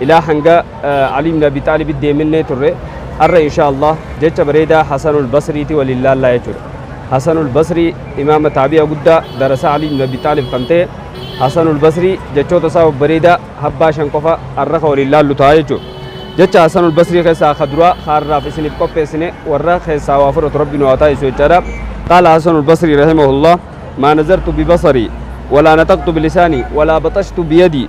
Ilaa hanga Ali ibn Abi Xaalibit deeminnee turre arra insha Allah jecha bareedaa Hasanul Basriiti waliin laallaa jechuudha. Hasanul Basrii imaama taabi'a guddaa darasaa Ali ibn Abi Xaalib kan ta'e Hasanul Basrii jechoota isaa babbareedaa habbaa shan qofa arra ka waliin laallu ta'a jechuudha. Jecha Hasanul Basrii keessaa ka duraa ka arraaf isiniif qopheessine warra keessaa waa fudhatu Rabbi nu haa taasisu jechaadha. Qaala Hasanul Basrii rahimahullah maa nazartu bibasari walaa naxaqtu bilisaani walaa baxashtu biyadii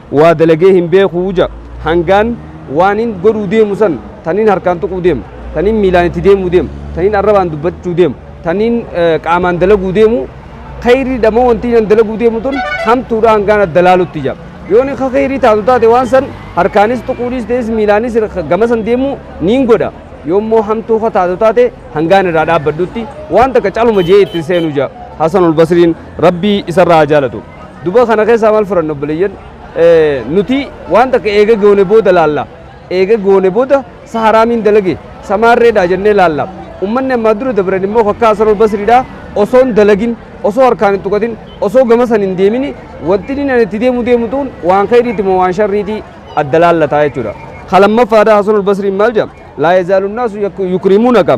Waa dalagee hin beeku ja. Hangaan waanin godhuu deemu san taniin harkaan tuquu deemu, taniin miilaan itti deemuu deemu, taniin arrabaan dubbachuu deemu, taniin qaamaan dalaguu deemu kheyriidha moo wantiin an dalaguu deemu tun hamtuudha hangaan adda laalutti ja. Yoo ni ka kheyrii taatu taate waan san harkaanis tuquu dhiistees miilaanis gama san deemuu niin godha. Yoo immoo hamtuu ka taatu taate hangaan irraa dhaabbadhutti waan takka caluma je'ee itti hin seenu ja. Hasanul Basriin Rabbii isarraa haa jaalatu. Duba kana keessaa maal furanna obboleeyyan? Nuti waan takka eega goone booda laalla. Eega goone booda sa haraamiin dalage sa maarreedha jennee laalla. Ummanni ammaa dura dabran immoo kakkaa Hasan al-Basriidha osoo hin dalagin osoo harkaan hin tuqatin osoo gama san hin deemini wanti inni ani itti deemu deemu tuun waan khayriiti moo waan sharriiti adda laallataa jechuudha. Ka lammaffaadha Hasan al-Basriin maal jedha? Laa yazaalu naasu yukrimuunaka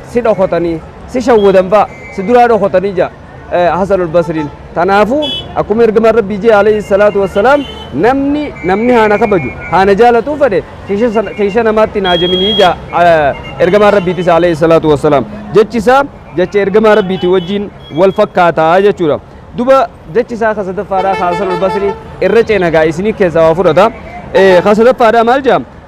si dhokotanii, si shawwadan fa'a, si duraa dhokotanii jedha Hasanul Basriin. Tanaafuu akkuma ergamaan Rabbii jee alayhi salaatu wassalaam namni namni haana kabaju haana jaalatuu fedhe keesha namaatti naa jaminii jaa ergamaan Rabbiitis alayhi salaatu wassalaam. Jechi isaa jecha ergamaa Rabbiitii wajjiin wal fakkaataa jechuudha. Duba jechi isaa ka sadaffaadhaa ka Hasanul Basrii irra ceenagaa isinii keessaa waa fudhata. Ka sadaffaadhaa maal jedha?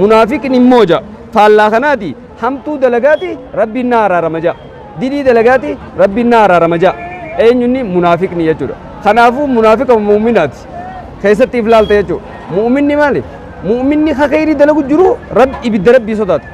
Munaafiqni immoo ja'a. Faallaa kanaati hamtuu dalagaati rabbiin na araarama ja'a. Dilii dalagaati rabbiin na araarama ja'a. Eenyunni munaafiqni jechuudha. Kanaafuu munaafiqa muuminaati. Keessatti if laalta jechuudha. Muuminni maali? Muuminni kakayrii dalagu jiru rabbi ibidda rabbii sodaata.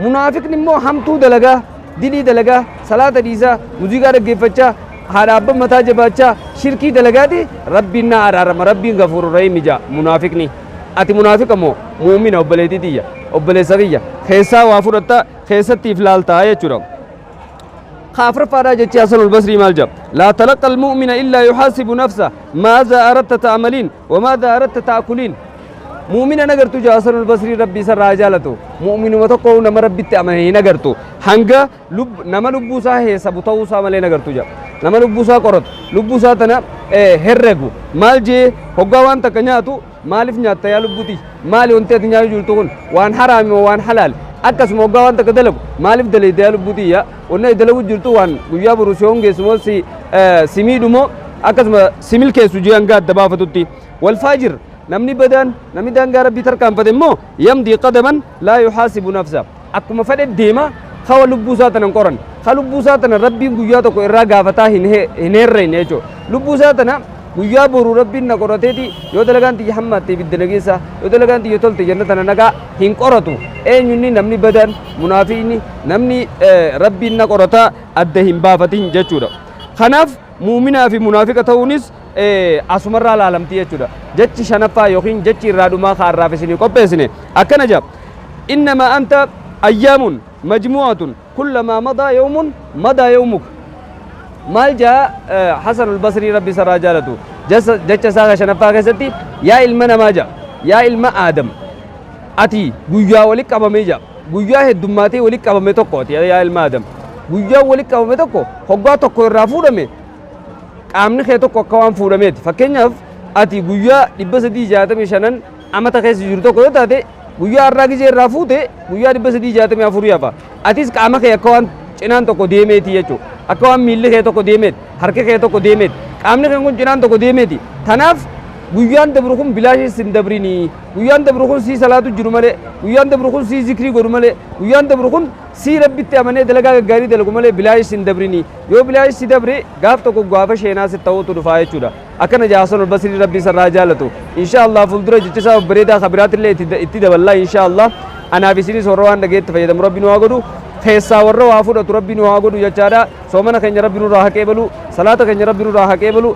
Munaafiqni immoo hamtuu dalagaa, dilii dalagaa, salaata dhiisaa, muuziqaa dhaggeeffachaa, haadha abban mataa jabaachaa, shirkii dalagaati rabbiin na araarama, rabbiin gafuuru rahimi ja'a munaafiqni. Ati munaafiqa moo mu'umina obboleettii tiyya, obboleessa kiyya, keessaa waa fudhatta, keessatti if laalta jechuudha. Ka afraffaadhaa jechi Hasanul Basrii maal jedha? Laa talaqqa al-mu'mina illaa yuhaasibu nafsa maazaa aratta ta'amaliin wa maazaa aratta ta'akuliin. Mu'umina nagartu jedha Hasanul Basrii rabbi isarraa haa jaalatu. Mu'uminuma tokko nama rabbitti amane hin agartu. Hanga Lubb, nama lubbuu isaa heesabu ta'uu isaa malee hin agartu jedha. Nama lubbuu isaa qoratu, lubbuu isaa tana eh, herregu. Maal jee hoggaa waan takka nyaatu maaliif nyaatta yaa lubbuu tiyya? Maali wanti ati nyaachuu jirtu kun? Waan haraami moo waan halaali? Akkasuma hoggaa waan takka dalagu maaliif dalayda yaa lubbuu tiyya? Wanni ati dalaguu jirtu waan guyyaa boru si hongeessu moo si, eh, si miidhu moo akkasuma si milkeessu jee hanga adda baafatutti. Wal faajir namni badaan namni daangaa rabbii tarkaanfate immoo yamdii qadaman laa yuhaasibu nafsa. akkuma fedhe deema, ka wa lubbuu isaa tana hin qoranne. Ka lubbuu isaa tana Rabbiin guyyaa tokko irraa gaafataa hin herregne jechuudha. Lubbuu isaa tana guyyaa boru Rabbiin na qorateeti yoo dalagaan tiyya hammaatte ibidda na geessa, yoo dalagaan tiyya tolte jannata na naqaa hin qoratu. Eenyu inni namni badaan, munaafiqni, namni Rabbiin na qorataa adda hin baafatin jechuudha. Kanaaf Mu'uminaa fi munaafiqa ta'uunis asumarraa laalamti jechuudha. Jechi shanaffaa yookiin jechi irraa dhumaa ka har'aaf isinii qopheessine akkana jedha. Innamaa anta ayyaamun majmu'atun kullamaa madaa yawmun madaa yawmuka. Maal jaa Hasanul Basrii Rabbi isarraa jaalatu jecha isaa ka shanaffaa keessatti yaa ilma namaa jaa yaa ilma Aadam ati guyyaa wali qabamee jaa. Guyyaa heddummaatee walitti qabame tokko ati yaa ilma Adam. Guyyaan walitti qabame tokko hoggaa tokko irraa fuudhame qaamni kee tokko akka waan fuudhameeti. Fakkeenyaaf ati guyyaa 365 amata keessa jiru tokko yoo taate guyyaa har'aa gizee irraa fuute guyyaa 364 hafa. Atis qaama kee akka waan cinaan tokko deemeeti jechuudha. Akka waan miilli kee tokko deemeeti, harki kee tokko deemeeti, qaamni kee kun cinaan tokko deemeeti. Kanaaf guyyaan dabru kun bilaashis hin dabrinii. Guyyaan dabru kun sii salaatu jiru malee, guyyaan dabru kun sii zikrii godhu malee, guyyaan dabru kun sii Rabbitti amanee dalagaa gaggaarii dalagu malee bilaash sin dabrini. Yoo bilaash si dabre gaaf tokko gaafa sheenaa sitti ta'uutu dhufaa jechuudha. Akkana jedha Hasan al-Basrii Rabbi isarraa haa jaalatu. Inshaa Allah fuuldura jecha isaa babbareedaa ka biraatillee itti itti daballaa inshaa Allah. Anaaf isinis warra waan dhageetti fayyadamu Rabbi nu haa godhu. Keessaa warra waa fudhatu Rabbi nu haa godhu jechaadha. Soomana keenya Rabbi nurraa haa qeebalu. Salaata keenya Rabbi nurraa haa qeebalu.